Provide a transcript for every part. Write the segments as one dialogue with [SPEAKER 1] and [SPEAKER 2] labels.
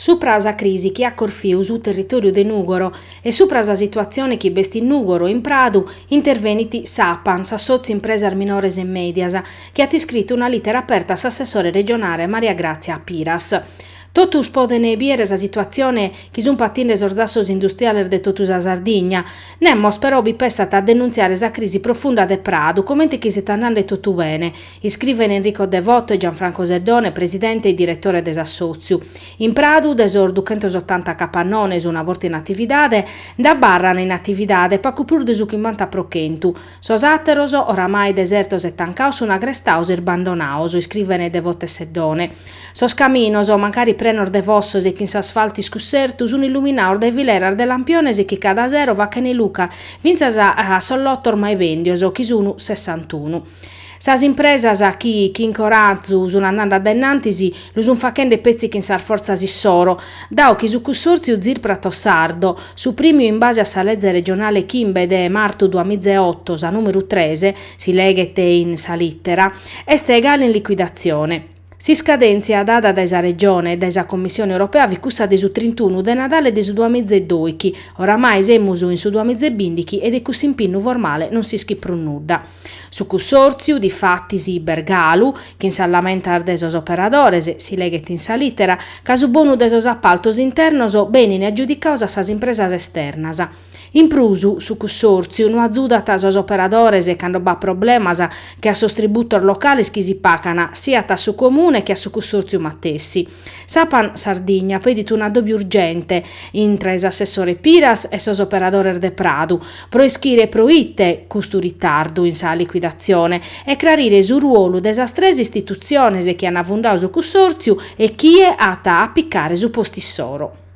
[SPEAKER 1] Supra a sa crisi chi at corfiu su territòriu de Nùgoro e supra a sa situatzione chi b'est in Nùgoro e in Pradu intervenit s'Apan, s'Assòtziu Impresas Minores e Mèdias, chi at iscritu una lìtera aperta a s'assessore regionale Maria Gràtzia Piras. Totus podent bìdere sa situatzione chi sunt patinde sos zassos industriales de totu sa Sardigna. Nemos però bi pensat a denuntziare sa crisi profunda de Pradu, comente chi siat andende totu bene, Iscrivent Enrico Devoto e Gianfranco Seddone, presidente e diretore de s'assòtziu. In Pradu, de sos duchentos otanta capannones una borta in atividade, nd'abarran in atividade pagu prus de su chimbanta pro chentu. Sos àteros, oramai desertos e tancados sun agrestados e isbandonados, iscrivent Devoto e Seddone. Sos caminos, mancari prenos de fossos e chin s'asfaltu iscussertu, sun illuminados dae fileras de lampiones chi cada sero fachent luche fintzas a sos lotos mai bèndios, chi sun sessantunu. Sas impresas chi chin corazu sun andende a dennantis lu sun faghende petzi chin sas fortzas issoro, dao chi su cussòrtziu ZIR Prato Sardo, suprimiu in base a sa leze regionale chimbe de martu duamiza e oto, sa nùmeru tres, si leghet in sa lìtera, est galu in liquidatzione. S'iscadèntzia dada dae sa Regione e dae sa Commissione Europea fit cussa de su trintunu de Nadale de su duamiza e doighi. Oramai semus in su duamiza e bìndighi e de cussu impinnu formale non s'ischit prus nudda. Su cussòrtziu, difatis, b'est galu, chin sas lamentas de sos operadores, si leghet in sa lìtera, ca su bonu de sos apaltos internos benin agiudicados a sas impresas esternas, In prus, su cussòrtziu no azudat sos operadores cando b'at problemas che a sos tributos locales chi si pagan, siat a su Comune che a su cussòrtziu matessi. S'Apan Sardigna pedit un'addòbiu urgente intre s'assessore Piras e sos operadores de Pradu pro ischire pro ite custu ritardu in sa liquidatzione e crarire su ruolu de sas tres istitutziones chi an fundadu su cussòrtziu e chie at a picare su postu issoro.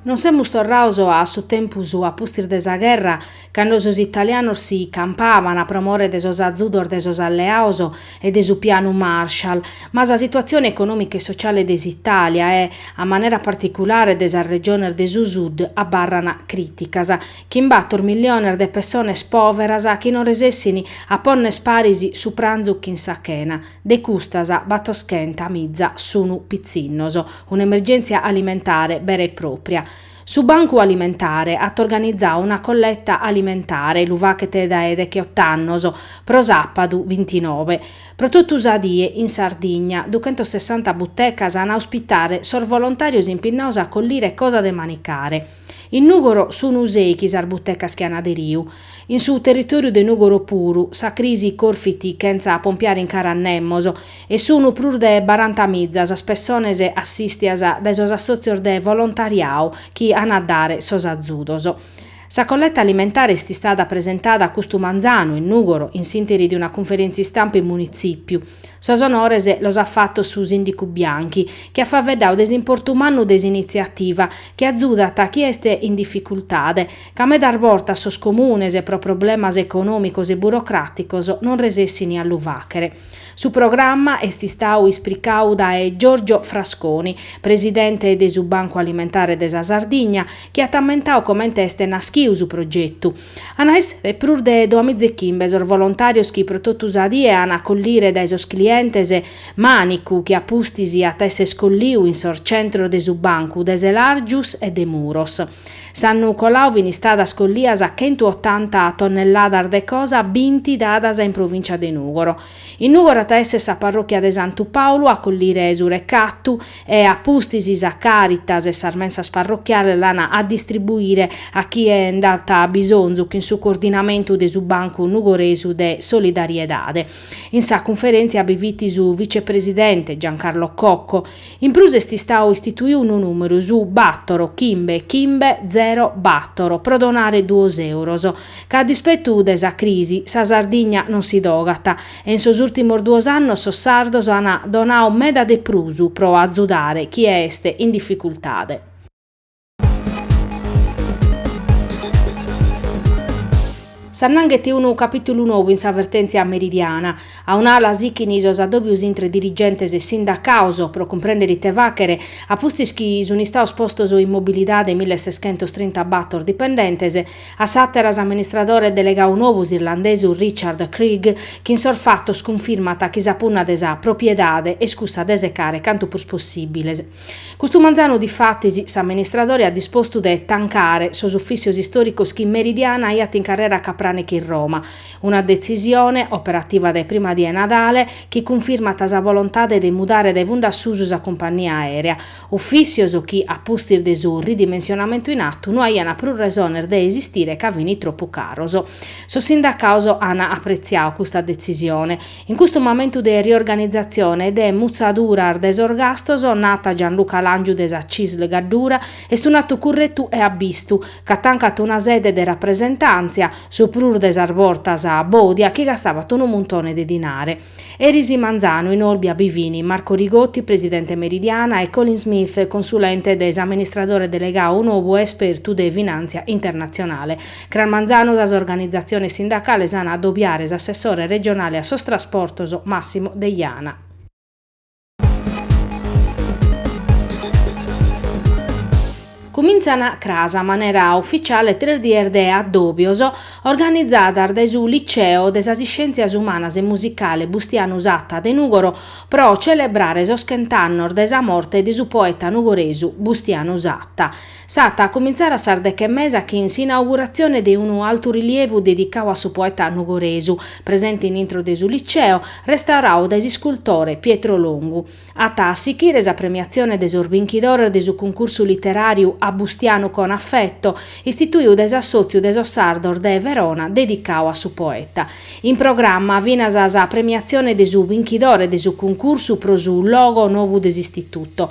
[SPEAKER 1] Non semus torrados a su tempus a pustis de sa gherra, cando sos italianos si campàbant pro more de sos azudos de sos alleados e de su pianu Marshall, ma sa situatzione econòmica e sociale de s'Itàlia e, a manera particulare, de sas regiones de su Sud abarrant crìticas. Chin bator milliones de pessones pòveras chi non resessint a ponner paris su pranzu chin sa chena, De custas, batoschenta miza sunu pitzinnos. Un'emergèntzia alimentare bera e pròpria. Su Bancu Alimentare at organizau una colletta alimentare, lu faghet dae degheot'annos, pro sàpadu bintinove, pro totu sa die in Sardigna. Duchentossessanta butecas an a ospitare sos volontàrios impinnados a collire cosa de manicare. In Nùgoro sunu seichi sas butecas chi an aderiu. In su territòriu de Nùgoro puru, sa crisi corfit chentza pompiare in cara a nemos, e sunu prus de baranta miza sas pessones assìstias dae sos assòtzios de volontariadu chi an a dare sos azudos. Sa colletta alimentare est istada presentada custu manzanu in Nùgoro in s'interi de una cunferèntzia istampa in Munitzìpiu. Sos onores los at fatos su sìndicu Bianchi, chi at faeddadu de s'importu mannu de s'initziativa, chi azudat a chie est in dificultade, ca medas bortas sos comunes pro problemas econòmicos e burocràticos non resessini a lu fàghere. Su programma est istadu ispricadu dae Giorgio Frasconi, presidente de su Bancu Alimentare de sa Sardigna, chi at ammentadu comente est naschidu su progetu, An a èssere prus de doamizechimbes sos volontàrios chi pro totu sa die an a collire dae sos clientes mànicu chi a pustis at a èssere colliu in sos centros de su bancu de Selàrgius e de Muros. S'annu coladu fin istadas collias chentu otanta tonnelladas de cosa binti dadas in provìncia de Nùgoro. In Nùgoro at a èssere sa parròchia de Santu Pàulu a collire su recatu e a pustis sa Càritas e sas mensas parrochiales l'an a distribuire a chie nd'at bisonzu chin su coordinamentu de su Bancu Nugoresu de Solidariedade. In sa cunferèntzia bi fit su vitzepresidente Giancarlo Cocco. In prus est istadu istituiu unu nùmeru, su bàtoro chimbe chimbe zero bàtoro, pro donare duos euros. Ca a dispetu de sa crisi, sa Sardigna non si dogat, e in sos ùrtimos duos annos sos sardos an donadu meda de prus pro azudare chie est in dificultade. S'annanghet unu capìtulu nou in sa vertèntzia Meridiana. A un'ala sichint sos adòbios intre dirigentes e sindacados pro cumprèndere ite fàghere, a pustis chi sunt istados postos in mobilidade milleseschentos trintabàtor dipendentes, A s'àtera s'amministradore delegau nou s'irlandesu Richard Creagh, chi in sos fatos cunfirmat chi sa punna de sa propiedade est cussa de secare cantu prus possìbiles. Custu manzanu difatis s'amministradore at dispostu de tancare sos ufìssios istòricos chi Meridiana aiat in carrera Capranica in Roma, una detzisione, operativa dae prima die 'e Nadale, chi cunfirmat sa volontade de mudare dae fundu a susu sa cumpannia aèrea. Ufìssios chi, a pustis de su ridimensionamentu in atu, no aiant prus resones de esistire ca fint tropu caros. Sos sindacados ant apretziadu custa detzisione. In custu mamentu de riorganizatzione e de mutzaduras de sos gastos, nat Gianluca Làngiu de sa Cisl Gaddura, est un'atu curretu e abbistu, ca tancat una sede de rapresentàntzia, su prus de sas bortas bòdia, chi gastavat unu muntone de dinare. Eris manzanu in Olbia bi fin Marco Rigotti, presidente Meridiana, e Colin Smith, consulente de s'amministradore delegau nobu, espertu de finàntzia internatzionale. Cras manzanu sas organizatziones sindacales an a adobiare s'assessore regionale a sos trasportos Massimo Deiana. Cumintzana cras a manera ufficiale tres dies de addòbios organizadas dae su Liceo de sas Iscièntzias Umanas e Musicale Bustianu Satta de Nùgoro pro celebrare sos chent'annos de sa morte de su poeta nugoresu Bustianu Satta. S'at a comintzare a sas deghe e mesa chin s'inauguratzione de unu alturilievu dedicadu a su poeta nugoresu, presente in intro de su Liceo, restauradu dae s'iscultore Pietro Longu. At a sichire sa premiatzione de sos binchidores de su cuncursu literàriu A Bustianu con affetto, istituidu dae s'assòtziu de sos sardos de Verona dedicadu a su poeta. In programma finas sa premiatzione de su binchidore de su cuncursu pro su logo nobu de s'Istituto.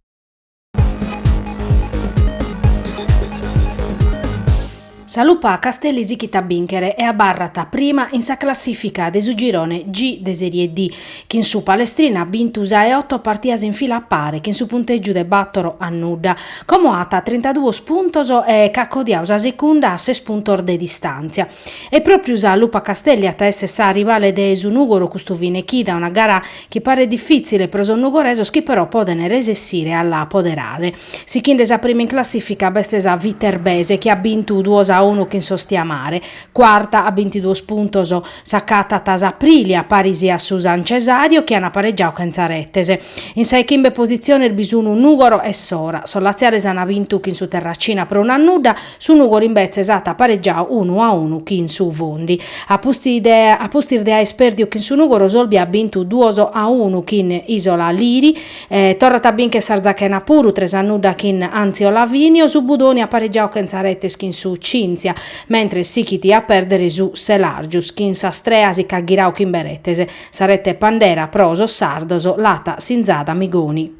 [SPEAKER 1] Sa Lupa Castelli sichit a bìnchere e abarrat prima in sa classìfica de su girone G de Sèrie D, chin su Palestrina at bintu sa 'e oto partidas in fila a pare chin su puntègiu de bàtoro a nudda, como at trintaduos puntos e ch'at codiadu sa segunda a ses puntos de distàntzia. E pròpiu sa Lupa Castelli at a èssere sa rivale de su Nùgoro custu fine chida, una gara chi paret difìtzile pro sos nugoresos chi però podent resessire a la apoderare. Sichinde sa prima in classìfica b'est sa Viterbese chi at bintu duos a unu chin s'Ostiamare. Cuarta a bintiduos puntos s'acatat s'Aprilia paris a su San Cesario chi ant paregiadu chentza retes. In sa 'e chimbe positziones bi sunt Nùgoro e Sora. Sos latziales ant bintu chin su Terracina pro unu a nudda. Su Nùgoro imbetzes at paregiadu unu a unu chin su Fondi. A pustis de aer pèrdiu chin su Nùgoro s'Olbia at bintu duos a unu chin Isola Liri, torrat a bincher s'Arzachena puru tres a nudda chin Anzio Lavinio, su Budoni at paregiadu chentza retes chin su Cynthia, mentres sichit a pèrdere su Selargius chin s'Astrea si ch'at ghiradu chimbe retes, sa rete pandera pro sos sardos l'at sinzada Migoni.